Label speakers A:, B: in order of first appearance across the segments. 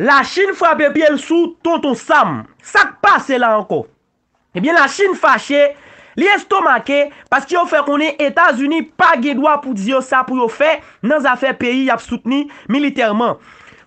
A: La chine frape pyel sou tonton sam. Sak pase la ankò? Ebyen la chine fache, li estomake paske yo fè konnen etazini pa gen dwa pou di yo sa pou yo fè nan zafè peyi yap soutni militèman.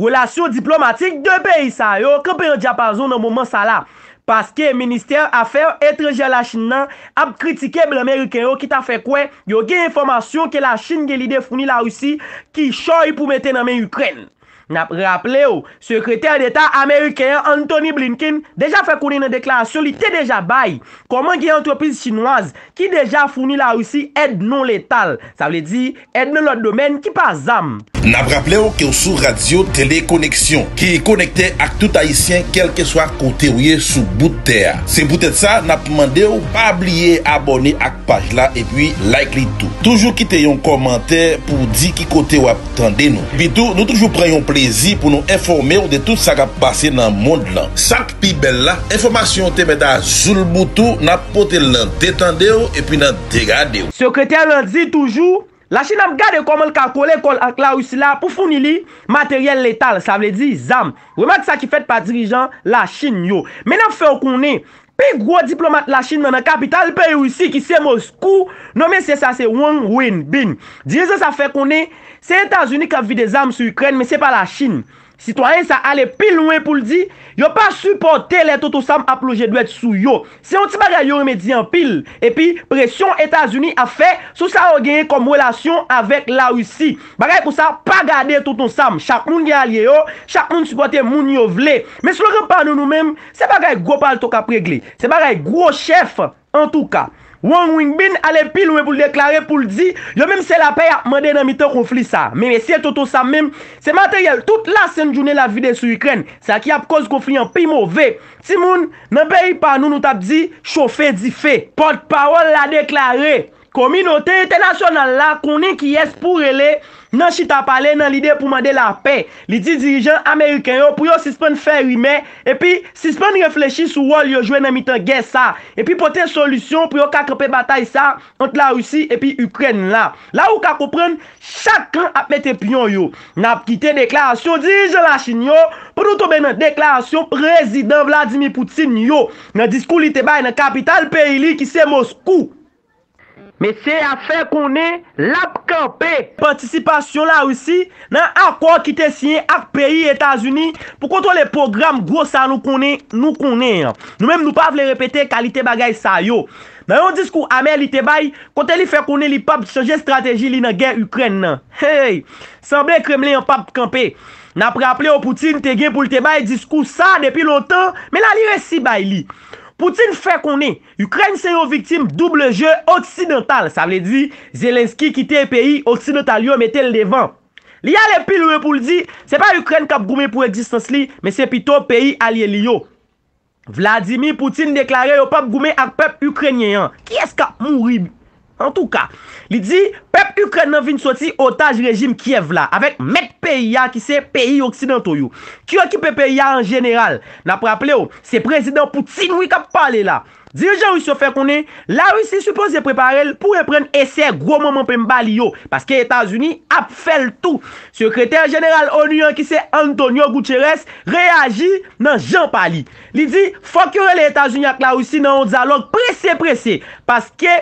A: Relasyon diplomatik 2 peyi sa yo kanpe yon dyapazon nan moman sa la, paske ministè afè etranjè la chine nan ap kritike blan meriken yo ki ta fè kwè yo gen enfòmasyon ke la chine gen lide founi la Russie kichòy pou mete nan men Ikrèn. N ap raple w, Sekretè Deta ameriken an, Antony Blinken, deja fè konnen nan deklarasyon li te deja bay, kòman gen antrepriz chinwaz ki deja founi Larisi èd non letal, sa vle di, èd nan lòt domèn ki pa zam. N ap raple w ke
B: w sou Radyo Tele Koneksyon, ki konekte ak tout Ayisyen kèlkeswa kote w ye sou bout tè a. Se poutèt sa, n ap mande w pa bliye abòne ak paj la epi like li tou. Toujou kite yon kòmantè pou w di ki kote w ap Tande nou. Epitou, nou toujou pran yon plezi pou nou enfòme w de tout sa k ap pase nan mond lan. Sa k pi bèl la, enfòmasyon yo te mèt a zoulboutou, n ap pote l nan de tande w epi nan de gade w. Sekretè lan di
A: toujou, Lachin ap gade kòman l ka kole kò l ak Larisi la pou founi li materyèl letal, sa vle di zam. Remak sa ki fèt pa dirijan Lachin yo. Men n ap fè w konnen, Pi gwo diplomat Lachin nan nan kapital peyi Risi ki se Moskou, non mesye sa se Wang Wenbin. Dirijan sa fè konnen, se Etazini k ap vide zam sou Ikrèn men se pa Lachin. Sitwayen sa ale pi lwen pou l di, yo pa sipòte lè Toto Sam ap lonje dwèt sou yo. Se yon ti bagay yo renmen di anpil. Epi, presyon Etazini ap fè sou sa yo genyen kòm relasyon avèk Larisi. Bagay konsa pa gade Tonton Sam. Chak moun gen alye yo, chak moun sipòte moun yo vle. Men slogan pa nou nou menm, Se bagay gwo palto kap regle. Se bagay gwo chèf antouka. Wong Wingbin ale pi lwen pou l deklare pou l di yo menm se lapè yap mande nan mitan konfli sa. Men mesye Tonton Sam menm se materyèl tout lasent jounen lap vide sou Ikrèn. Sa ki ap koz konfli an pi move. Timoun, nan peyi pa nou nou tap di, chofe dife. Pòt pawòl la deklare. Kominote entènasyonal la konnen kiyès pou rele nan chita pale nan lide pou mande lapè. Li di dirijan ameriken yo pou yo sispann fè rimè epi sispann reflechi sou wòl yo jwe nan mitan gè sa epi pote solisyon pou yo ka kanpe batay sa ant Larisi epi Ikrèn la. La ou ka konprann chak kan ap mete pyon yo. N ap kite deklarasyon dirijan Lachin yo pou nou tonbe nan deklarasyon Prezidan Vladimir Putin yo nan diskou li te bay nan kapital peyi li ki se Moskou. Mesye a fè konnen l ap kanpe. Patisipasyon Larisi nan akò ki te siyen ak peyi Etazini pou kontwole pwogram gwo sa nou konnen nou konnen an. Nou menm nou pa vle repete kalite bagay sa yo. Nan yon diskou amè li te bay, kote li fè konnen li pap chanje estrateji li nan gè Ikrèn nan. Hey! Sanble Kremlen an pap kanpe. N ap raple w Putin te gen pou l te bay diskou sa depi lontan, men la li resi bay li. Putin fè konnen Ukraine se yon viktim double jeu oksidantal, sa vle di Zelensky kite peyi oksidantal yo mete l devan. Li ale pi lwen pou l di se pa Ukraine k ap goumen pou egzistans li, men se pito peyi alye li yo. Vladimir Putin deklare yo p ap goumen ak pèp Ukrainien an. Kiyès k ap mouri Antouka, li di, pèp Ikrèn nan vin soti otaj rejim Kyèv la, avèk mèt peyi a ki se peyi oksidanto yo, ki okipe peyi a an jeneral. N ap raple w, se Prezidan Putin wi k ap pale la. Dirijan ris yo fè konnen, Larisi sipoze prepare l pou reprann esè gwo manman penmba li yo, paske Etazini ap fè l tou. Sekretè jeneral onu an ki se Antonio Guterres reyaji nan jan pa li. Li di, fòk yo rele Etazini ak Larisi nan yon dyalòg prese prese, paske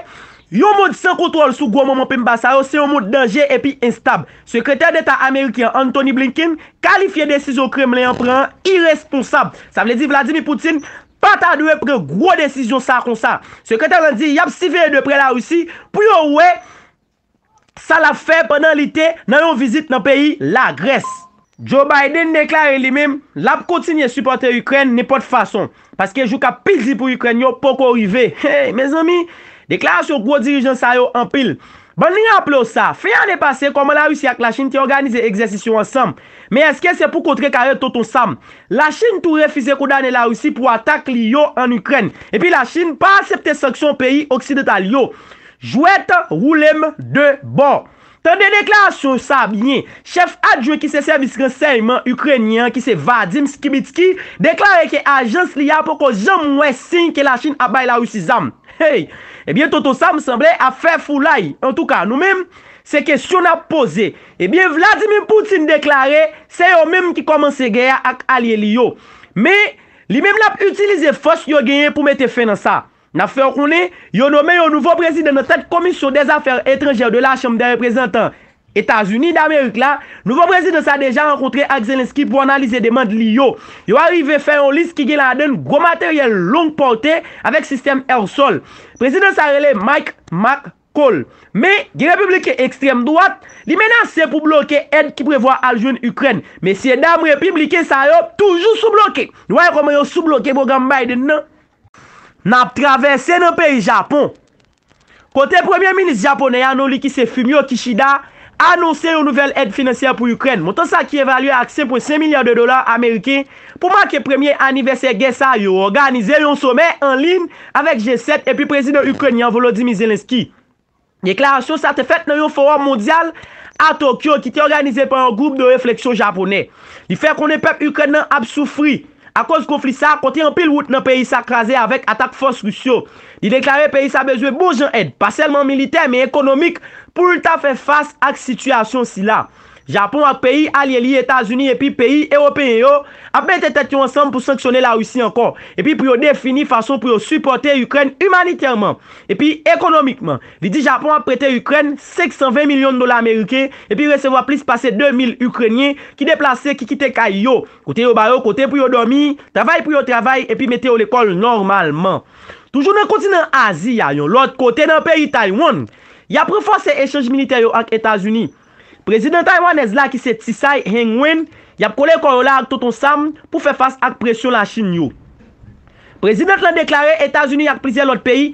A: yon mond san kontwòl sou gwo manman penmba sa yo se yon mond danje epi enstab. Sekretè Deta ameriken an Antony Blinken kalifye desizyon Kremlen an pran an iresponsab. Sa vle di Vladimir Putin pa ta dwe pran gwo desizyon sa konsa. Sekretè lan di yap siveye de prè Larisi pou yo wè Sa lap fè pandan li te nan yon vizit nan peyi Lagrès. Joe Biden deklare li menm lap kontinye sipòte Ikrèn nenpòt fason, paske jou kap pi di pou Ikrèn yo poko rive. Hey mezanmi! Deklarasyon gwo dirijan sa yo anpil. Bann raple w sa, fen ane pase kòman Larisi ak Lachin te òganize egzèsis yo ansanm. Men èske se pou kontre kare Tonton Sam? Lachin tou refize kondane Larisi pou atak li yo an Ikrèn. Epi Lachin pa asepte sanksyon peyi oksidantal yo. Jwèt woule m 2 bò. Tande deklarasyon sa byen, chèf adjwen ki se sèvis ransèyman Ikrenyen an ki se Vadim Skibitskiy deklare ke ajans li a poko janm wè siy ke Lachin ap bay Larisi zam. Hey! Ebyen Tonton Sam sanble ap fè foulay. Antouka, nou menm, se kesyon n ap poze. Ebyen Vladimir Putin deklare se yo menm ki kòmanse gè a ak alye li yo. Men, li menm l ap itilize fòs yo genyen pou mete fen nan sa. N ap fè w konnen, yo nome yon nouvo prezidan nan tèt Komisyon dè Zafè Etranjè de la Chanm dè Reprezantan Etazini Damerik la. Nouvo prezidan sa deja rankontre ak Zelensky pou analize demand li yo. Yo arive fè yon lis ki gen ladan n gwo materyèl long pòte avèk sistèm èr-sòl. Prezidan sa rele Mike McCaul. Men, gen Repibliken ekstrèm dwat, li menase pou bloke èd ki prevwa al jwenn Ikrèn. Mesyedam Repibliken sa yo toujou sou bloke. Nou wè kòman yo sou bloke pwogram Biden nan. N ap travèse nan peyi Japon, kote Premye Minis Japonè a, Norikise Fumio Kishida, anonse yon nouvèl èd finansyè pou Ikrèn. Montan sa ki evalye ak 5,5 milya de dola ameriken pou make premye anivèsè gè sa yo òganize yon somè an liyn avèk G7 epi Prezidan Ikrenyen an Volodymyr Zelensky. Deklarasyon sa te fèt nan yon fowòm mondyal a Tokyo ki te òganize pa yon gwoup de refleksyon Japonè. Li fè konnen pèp Ikrèn nan ap soufri akoz konfli sa a kote anpil wout nan peyi sa kraze avèk atak fòs Ris yo. Li deklare peyi sa bezwen bon jan èd, pa sèlman militè men ekonomik pou l ta fè fas ak sitiyasyon sila. Japon ak peyi alye li Etazini epi peyi Ewopeyen yo ap mete tèt yo ansanm pou sanksyone Larisi ankò epi pou yo defini fason pou yo sipòte Ikrèn imanitèman epi ekonomikman. Li di Japon ap prete Ikrèn 520 milyon dola ameriken epi resevwa plis pase 2 mil Ikrenyen ki deplase ki kite kay yo kote yo ba yo kote pou yo dòmi, travay pou yo travay epi mete yo lekòl nòmalman. Toujou nan kontinan Azi a, yon lòt kote nan peyi Taiwan, y ap ranfòse echanj militè yo ak Etazini. Prezidan taywanèz la ki se Tsai Hing-wen yap kole kò yo la ak Tonton Sam pou fè fas ak presyon La Chin yo. Prezidant lan deklare Etazini ak plizyè lòt peyi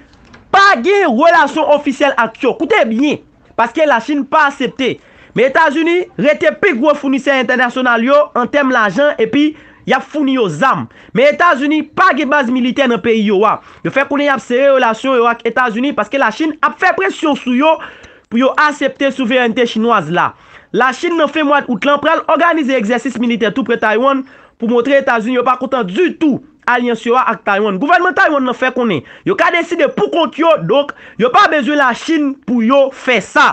A: pa gen relasyon ofisyèl ak yo, koute byen, paske La Chin pa asepte. Men Etazini rete pi gwo founisè entènasyonal yo an tèm lajan epi yap founi yo zam. Men Etazini pa gen baz militè nan peyi yo a. Yo fè konnen yap sere relasyon yo ak Etazini paske La Chin ap fè presyon sou yo Pou yo asepte souverènte chinwaz la, Lachin nan fen mwad Out lan pral òganize egzèsis militè tou pre Taywann pou montre Etazini yo pa kontan ditou alyans yo a ak Taywann. Gouvènman Taywann lan fè konnen yo ka deside pou kont yo, donk yo pa bezwen Lachin pou yo fè sa.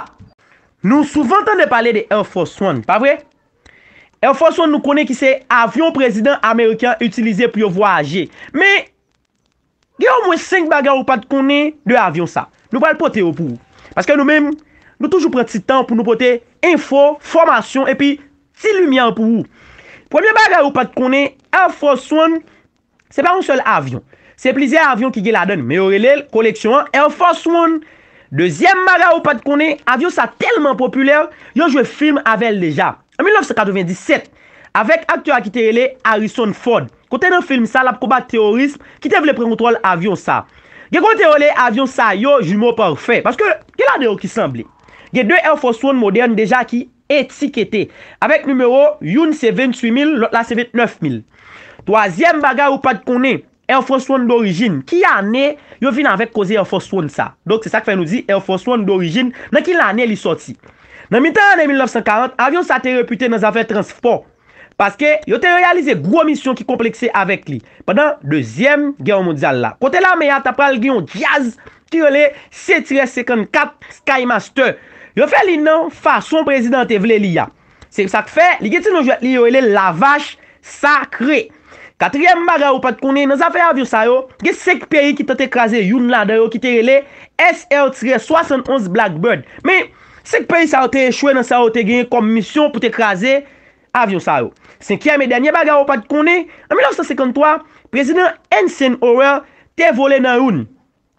A: Nou souvan tande pale de Air Force One, pa vre? Air Force One nou konnen ki se avyon prezidan ameriken an itilize pou yo vwayaje. Men, Gen omwen 5 bagay ou pat konnen de avyon sa. Nou pral pote yo pou ou. Paske nou menm, nou toujou pran ti tan pou nou pote enfo, fòmasyon epi ti limyè pou ou. Premye bagay ou pat konnen, Air Force One se pa yon sèl avyon. Se plizyè avyon ki gen ladan l men yo rele l koleksyon an Air Force One. Dezyèm bagay ou pat konnen, avyon sa tèlman popilè, yo jwe film avè l deja. An 1997, avèk aktè a ki te rele Harrison Ford, kote nan film sa lap konbat teworism ki te vle pran kontwòl avyon sa. Gen kote yo rele avyon sa yo jumeaux parfaits, paske gen ladan yo ki sanble. Gen 2 Air Force One modèn deja ki etikete, avèk nimewo, youn se 28000, lòt la se 29000. Twazyèm bagay ou pat konnen, Air Force One dorijin ki ane yo vin avèk koze Air Force One sa? Donk se sa k fè nou di Air Force One dorijin nan ki lane li sòti? Nan mitan ane 1940, avyon sa te repite nan zafè transfpò paske yo te reyalize gwo misyon ki konplekse avèk li pandan Dezyèm Gè Mondyal la kote lame a ta pral gen yon djaz ki rele Setirè 54 Skymaster. Yo fè li nan fason prezidan an te vle li a. Se sa k fè, li gen ti non jwèt li yo rele l Lavach sakre. Katriyèm bagay ou pa t konnen, nan zafè avyon sa yo, gen 5 peyi ki tante kraze youn ladan yo ki te rele SR tirè 71 Blackbird. Men, 5 peyi sa yo te echwe nan sa yo te genyen kòm misyon pou te kraze avyon sa yo. Senkyèm e dènye bagay ou pa t konnen, an 1953, Prezidan Ensign Howell te vole nan youn.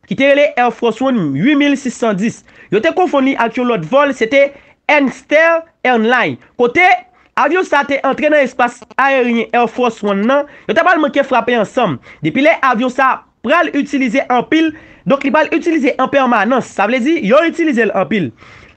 A: ki te rele Air Force One 8610, yo te konfonn li ak yon lòt vòl, se te Ernster Ernline, kote avyon sa te antre nan espas aeryen Air Force One nan, yo ta pral manke frape ansanm. Depi lè avyon sa pral itilize anpil, donk li pral itilize an pèmanans, sa vle di yo itilize l anpil.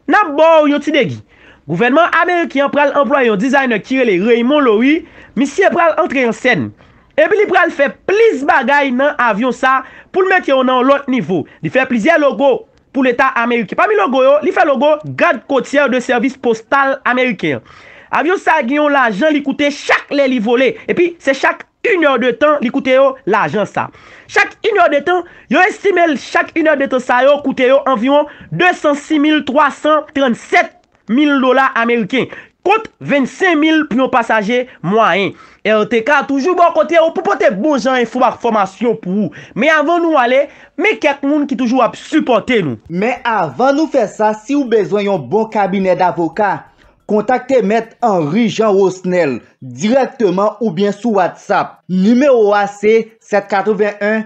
A: N ap ba w yon ti degi. Gouvènman ameriken an pral anplwaye yon designer ki rele Raymond Loewy, misye pral antre an sèn. Epi li pral fè plis bagay nan avyon sa pou l mete yo nan yon lòt nivo. Li fè plizyè logo pou leta ameriken. Pami logo yo, li fè logo Gad Kotyè de Sèvis Postal Ameriken an. Avyon sa gen yon lajan li koute chak lè li vole. Epi se chak inèdetan li koute yo lajan sa. Chak inèdetan, yo estime l chak inèdetan sa yo koute yo anviwon 206 mil 337 mil dola ameriken, kont 25 mil pou yon pasaje mwayen. RTK toujou bò kote ou pou pote bon jan enfo ak fòmasyon pou ou. Men avan nou ale, men kèk moun ki toujou ap sipòte nou. Men avan nou
C: fè sa si ou bezwen yon bon kabinè davoka, kontakte mèt Henry Jean Rosnel dirèkteman oubyen sou WhatsApp. Nimewo a se 781